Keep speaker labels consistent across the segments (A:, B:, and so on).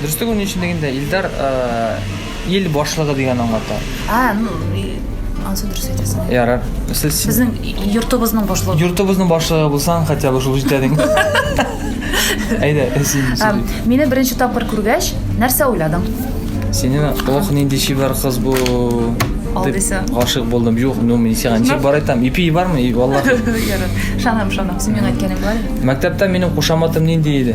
A: Дөрестеге ни өчен
B: дигәндә, Илдар ил башлыгы дигән аңлата. А, ну,
A: ансы дөрес әйтәсең. Ярар. Сез
B: Безнең йортыбызның
A: башлыгы. Йортыбызның башлыгы булсаң,
B: хотя бы шул җитә диң. Әйдә, син. Мине беренче тапкыр
A: күргәч, нәрсә уйладың? Сине
B: ох нинди чибәр кыз бу. Алдыйса.
A: Гашык булдым. Юк,
B: ну мин сиңа ничек бар айтам? Ипи бармы? Валлаһи. Шанам, шанам.
A: Син миңа әйткәнең бар. Мәктәптә минем
B: кушаматым нинди иде?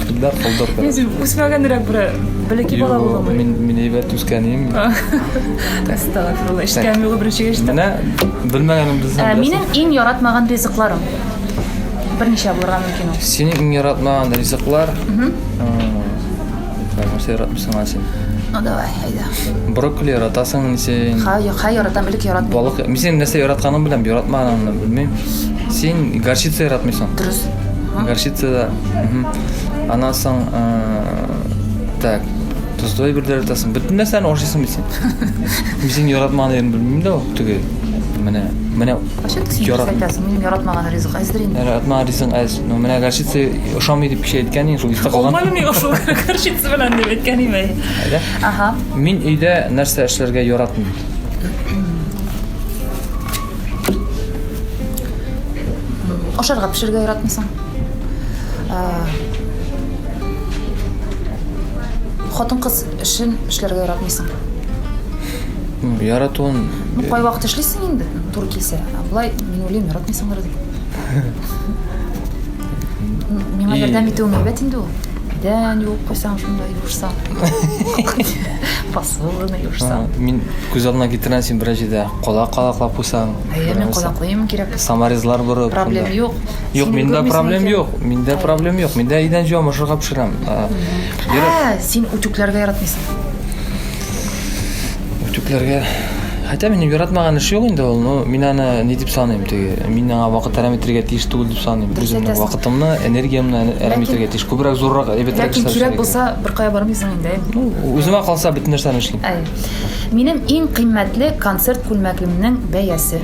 B: Да, колдыр. Мин син үсмәгәнрәк
A: бер бәләкәй бала булдым. Мин мин әйбәт үскәнем.
B: Астагфирулла.
A: Эшкән юлы беренче гәчте. Менә
B: белмәгәнем бездән. Ә минем иң яратмаган
A: ризыкларым. Берничә булырга мөмкин ул. Синең иң яратмаган
B: ризыклар? Мм. Нәрсә яратмыйсың аны син? Ну давай,
A: әйдә. Брокколи яратасың
B: ни син? Ха, юк, ха яратам, элек
A: яратмыйм. Балык, мин синең нәрсә
B: яратканыңны беләм, яратмаганыңны белмим. Син горчица яратмыйсың. Дөрес.
A: Горчица да
B: Аннан соң так, тозлы әйберләр атасың. Бөтен нәрсәне ашыйсың бит син. Үзең яратмаган әйберне белмим дә ул теге. Менә менә Кайчан син ярат...
A: әйтәсең, минем яратмаган ризык әздер инде. Яратмаган ризык әз.
B: Ну, менә горчица ошамый дип кеше әйткән инде, шул истә калган. Алмалым юк шул горчица
A: белән дип әйткән име. Ага.
B: Мин
A: өйдә
B: нәрсә эшләргә яратмыйм. Ашарга
A: пешерергә яратмыйсың? Хатын-кыз эшен эшләргә яратмыйсың.
B: Яратуын... Ну, кай вакыт эшлисең
A: инде, туры килсә. Болай, мин уйлыйм, яратмыйсыңдыр дип. Миңа ярдәм итүең әйбәт инде ул. Идән юып куйсаң, шунда юышсаң. Посуданы юышсаң. Мин күз алдына
B: китерәм, син берәр җирдә калак калаклап куйсаң. Әйе, мин калаклыйм
A: кирәк. Саморезлар борып.
B: Проблем юк.
A: Юк, миндә проблем
B: юк. Миндә проблем юк. Миндә идән җуам, ашарга пешерәм. Ә,
A: син үтүкләргә яратмыйсың.
B: Үтүкләргә Хотя минем яратмаган эш юк инде ул, но мин аны ни дип саныйм, теге, мин аңа вакыт әрәм итәргә тиеш түгел дип саныйм. Үземнең вакытымны, энергиямне әрәм итәргә тиеш. Күбрәк зуррак, әйбәтрәк эшләр. Ләкин кирәк булса, бер
A: кая бармыйсың инде. Ну, үземә калса
B: бөтен нәрсәне эшлим. Минем иң
A: кыйммәтле концерт күлмәгемнең бәясе.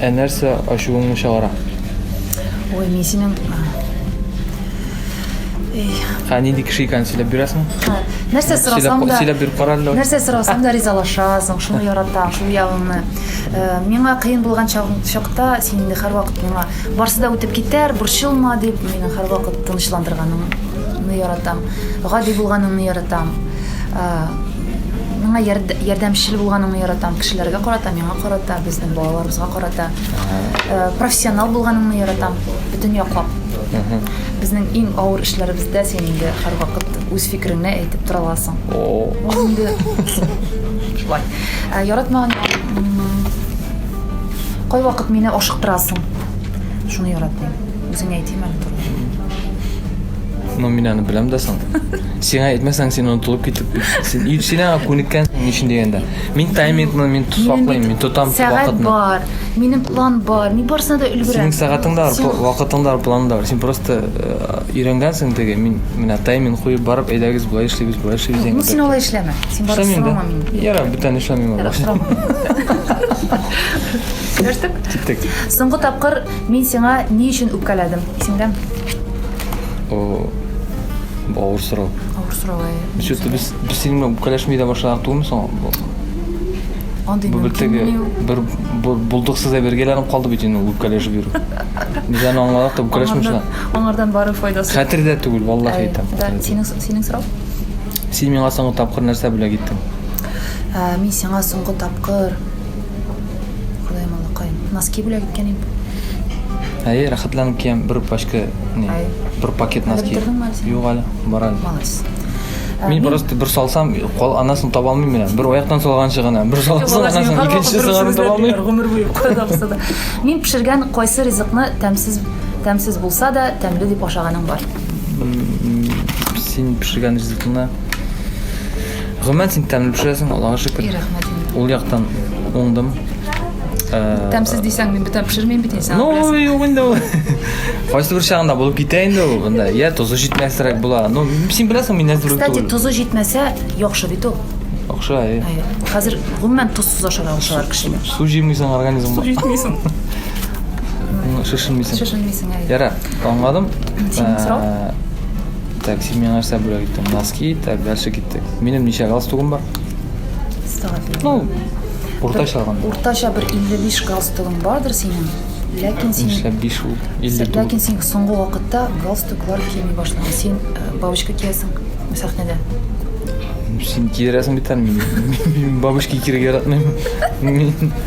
B: Ә нәрсә ачуыңны чыгара? Ой,
A: мин синең
B: Ә нинди кеше икәнен сөйләп бирәсең? Ха, Нәрсә
A: сорасам да, сөйләп бир кара әле. нәрсә
B: сорасам да
A: ризалашасың, шуны яратам, шул ягыңны. Э, Миңа кыен булган чагың- чакта син инде һәрвакыт миңа барсы да үтеп китәр, борчылма дип мине һәрвакыт тынычландырганыңны яратам. Гади булганыңны яратам. Э, Миңа ярдәмчел булганың яратам, кешеләргә карата, миңа карата, безнең балаларыбызга карата. Э, профессионал булганың яратам, бөтен яклап. Безнең иң авыр эшләребездә син инде һәрвакыт үз фикереңне әйтеп тора аласың. Ул инде шулай. Э, яратмаган кайвакыт мине ашыктырасың. Шуны яратмыйм. Үзеңә әйтим әле. Ну, мин
B: аны беләм дә соң. Сиңа әйтмәсәң, син онытылып китеп бит. Син ир- син аңа күнеккәнсең ни өчен дигәндә. Мин таймингны мин ту- саклыйм, мин тотам Сәгать вакытны. бар, минем
A: план бар, мин барысына да өлгерәм. Синең сәгатең дә бар, Син- пла-
B: вакытың да бар, планың да бар. Син просто э, өйрәнгәнсең теге, мин менә тайминг куеп барып, әйдәгез, болай эшлибез, болай эшлибез Ну, дигәндә. син алай эшләмә. Син барып
A: Эшләмим сорама дә. мине. Ярар, бүтән эшләмим.
B: Ярар, сорама.
A: Сөйләштек? Киттек.
B: Соңгы тапкыр
A: Мин сиңа ни өчен үпкәләдем,
B: исеңдәме? О, бу авыр
A: сорау. Авыр сорау. Что-то э. без без
B: синең белән үпкәләшми дә башладык түгелме соң?
A: Андый Бу бер теге
B: бер бу- булдыксыз да бергәләнеп калды бит инде үпкәләшеп йөрү. Без аны аңладык та үпкәләшмеш Аңардан, шуна. аңардан бары
A: файдасы. Хәтердә түгел, валлахи
B: әйтәм. Да, хәтердә түгел. синең синең сорау?
A: Син миңа
B: соңгы тапкыр нәрсә белә киттең? Ә, мин
A: сиңа соңгы тапкыр Кудаем алакай. Носки бүләк иткән инде. Әйе,
B: рәхәтләнеп киям бер пачка, не, бер пакет носки. Юк әле,
A: бар әле. Молодец. Мин просто
B: бер салсам, кол анасын таба алмыйм менә. Бер аяктан салганчы гына, бер салсам анасын икенче сыгарын таба алмыйм. Гомер буе кадамса
A: да. Мин пешергән кайсы ризыкны тәмсез тәмсез булса да тәмле дип ашаганың бар? Син
B: пешергән ризыкны Гомумән син тәмле пешерәсең, Аллага шөкер. И рәхмәт. Ул яктан уңдым.
A: Э, Тәмсез дисәң, мин бөтен пешермим бит инде. Ну, юк инде ул.
B: Кайсы бер чагында булып китә инде ул. Анда я тозы җитмәсрәк була. Ну, син беләсең, мин әзер Кстати, түгел. тозы җитмәсә,
A: яхшы бит ул. Яхшы, әй.
B: Хәзер
A: гомумән тозсыз ашарга алышалар кешене. Су җимисең организм.
B: Су җитмисең.
A: Шешенмисең. Шешенмисең,
B: әй. Яра,
A: аңладым.
B: Синең
A: сорау? Э, Так,
B: син миңа нәрсә бүләк иттең? Носки, так, дальше киттек. Минем ничә галстугым бар? Сага бирә. Ну, уртача алганда. Уртача бер 55
A: галстугың бардыр синең. Ләкин син Нишләп 5 ул? 59. Ләкин син соңгы вакытта галстуклар кими башладың. Син э, бабочка киясең сәхнәдә.
B: Син киерәсең бит әле мине. Мин бабочки киерергә яратмыйм. Мин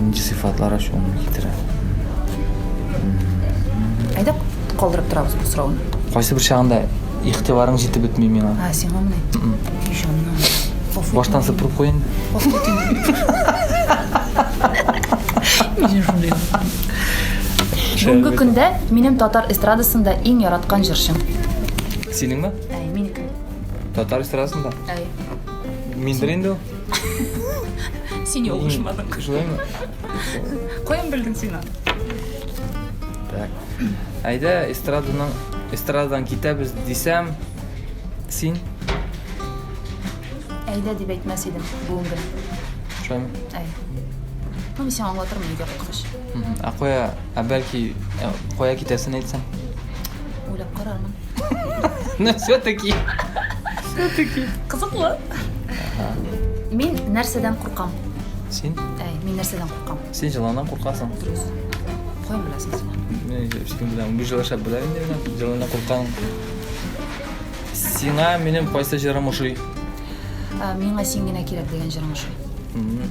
A: Нинди
B: сыйфатлар ачуыңны китерә?
A: Әйдә калдырып торабыз бу сорауны. Кайсы бер чагында
B: игътибарың җитеп бетми миңа. А, сиңа менә.
A: Ишаннан. Баштан
B: сыпырып куй инде.
A: Бүгенге көндә минем татар эстрадасында иң яраткан җырчым.
B: Синеңме? Әй, минеке.
A: Татар
B: эстрадасында? Әй. Миндер инде ул.
A: Син ялгышмадың. Шулаймы?
B: Каян
A: белдең син аны? Так.
B: Әйдә, эстраданың эстрададан китәбез дисәм, син
A: Әйдә дип әйтмәс идем бүгенге. шулаймы?
B: Әй. Ну,
A: мин сиңа аңлатырмын өйгә кайткач. Мгм. Ә кая, ә
B: бәлки ә, кая китәсен әйтсәң? Уйлап
A: карармын. Ну,
B: все-таки. Все-таки.
A: Кызыклы. Мин нәрсәдән куркам? Син? Әй,
B: мин нәрсәдән
A: куркам? Син җыланнан куркасың.
B: Дөрес.
A: Кой беләсең син? Мин син беләм.
B: Бу җылаша беләм инде мин. Җыланнан куркам. Сиңа минем кайсы җырым ошый? Ә,
A: Миңа син генә кирәк дигән җырың ошый. Мгм.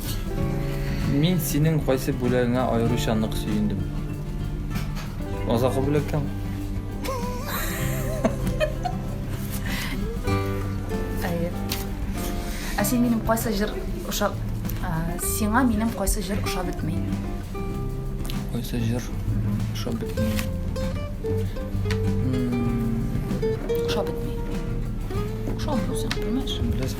A: Мин
B: синең кайсы бүләгеңә аеруча нык сөендем. Азакы бүләктән.
A: Әйе. Ә син минем кайсы җыр ошап сиңа минем кайсы җыр ошап бетми?
B: Кайсы җыр ошап бетми?
A: Ошап бетми. Ошап үзең, белмәш. Беләсең,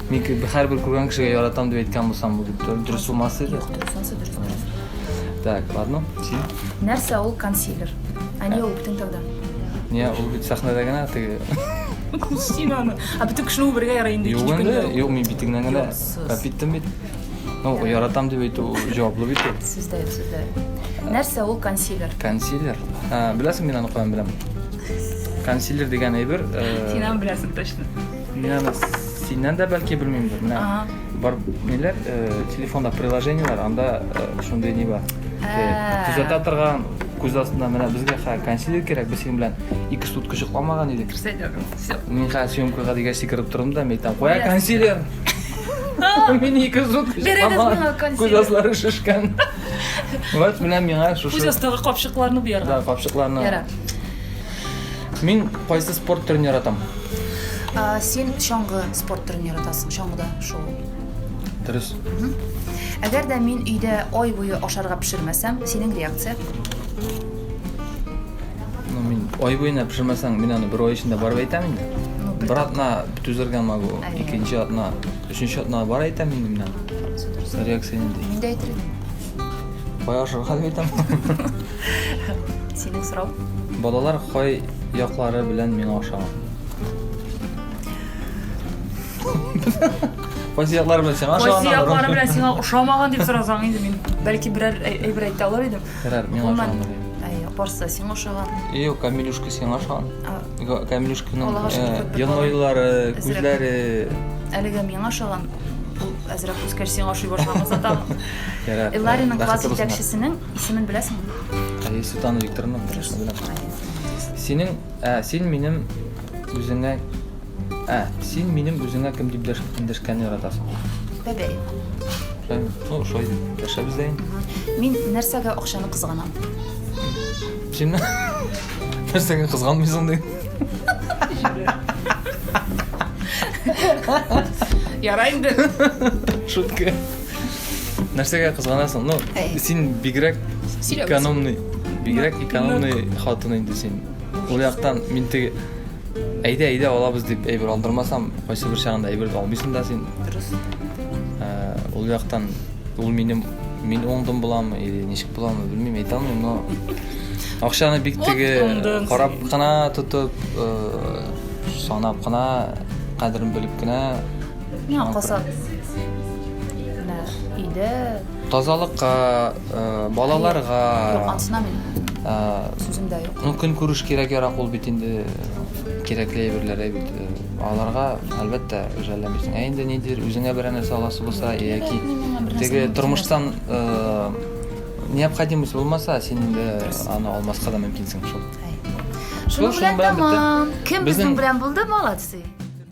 B: Мин ки-
A: һәрбер
B: күргән кешегә яратам дип әйткән булсам, бу дип дөрес- дөрес булмас иде. Юк, дөрес, анысы
A: дөрес, дөрес.
B: Так, ладно, син. Нәрсә ул
A: консилер? Ә не үп тентауда? Не, ул бит
B: сәхнәдә генә теге. Син
A: аны. А бөтен кешене үбергә ярый инде Юк инде, юк, мин
B: битеңнән генә Юксыз. кап иттем бит. Ну, яратам дип әйтү ул җаваплы бит ул. Сездә, сездә.
A: Нәрсә ул консилер? Консилер. Ә,
B: беләсең, мин аны каян беләм. Консилер дигән әйбер. э, Син аны беләсең
A: точно. Мин аны
B: синнән дә бәлки белмимдер. Менә бар ниләр, э, телефонда приложениеләр, анда э, шундый ни бар. Э, Төзәтә торган күз астында менә безгә хәзер консилер кирәк, без синең белән ике сутка чыкламаган идек. Все, дорогой, все.
A: Мин хәзер
B: съемкага дигәч сикереп тордым да, мин әйтәм, куя Yes. консилер. Мин ике сутка Бирегез чыкламаган, миңа консилер. күз аслары шешкән. Вот менә миңа Күз шушы астагы капчыкларны
A: буярга. да, капчыкларны
B: Яра. Мин кайсы спорт төрен яратам?
A: Син чаңгы спорт төрен яратасың, чаңгыда шул. Дөрес. Әгәр дә мин өйдә ай буе ашарга пешермәсәм, синең реакция?
B: Ну, мин ай буена пешермәсәң, мин аны бер ай эчендә барып әйтәм инде. Ну, бер атна түзергә могу, икенче атна, өченче атна бар әйтәм инде мин аны. Реакция нинди? Мин дә әйтер идем.
A: Кайашырга
B: бит аңа. Синең
A: сорау? Балалар кай
B: яклары белән миңа ошаган? Кайсы яклары белән сиңа ошаган? Кайсы яклары белән сиңа
A: ошамаган дип сорасаң инде мин бәлки берәр әйбер әйтә алыр идем. Берәр миңа ошаган. Әй,
B: барсы да сиңа
A: ошаган. Юк, Камилюшка
B: сиңа ошаган. Камилюшканың
A: елмаюлары,
B: күзләре. Әлегә
A: миңа ошаган. Әзрәк үскәч сиңа ошый башлаган зата. Ярар. Эллариның
B: класс Бәхетле булсыннар.
A: җитәкчесенең исемен беләсеңме? Әйе, Светлана
B: Викторовна. Дөрес. Синең, ә, син минем үзеңә Ә, син минем үзеңә кем дип дәш- эндәшкәнне яратасың?
A: Бәбәй. Ә,
B: Ну, шулай дип дәшәбез дә инде. Мин нәрсәгә
A: акчаны кызганам?
B: Син нәрсәгә кызганмыйсың ди?
A: Ярай инде. Шутка.
B: Нәрсәгә кызганасың? Ну, син бигрәк экономный, бигрәк экономный хатын инде син. Ул яктан мин теге әйдә, әйдә алабыз дип әйбер алдырмасам, кайсы бер чагында әйбер алмыйсың да син. Дөрес.
A: Э,
B: ул яктан ул минем мин оңдым буламы или ничек буламы белмим, әйтә алмыйм, но акчаны бик теге карап кына тотып, э, санап кына, кадерен белеп кенә Миңа каса.
A: Менә өйдә. Тазалыкка,
B: э, балаларга. Юк, ансына мин. Э,
A: Сүземдә юк. Ну, көн күреш кирәк ярак
B: ул бит инде кирәкле әйберләр бит. Э, аларга әлбәттә жәлләмисең. Ә инде нидер үзеңә берәр нәрсә аласы булса яки теге тормыштан э, необходимость булмаса, син инде аны алмаска да мөмкинсең шул.
A: Шуның
B: белән
A: тәмам.
B: Кем
A: безнең белән булды,
B: молодцы.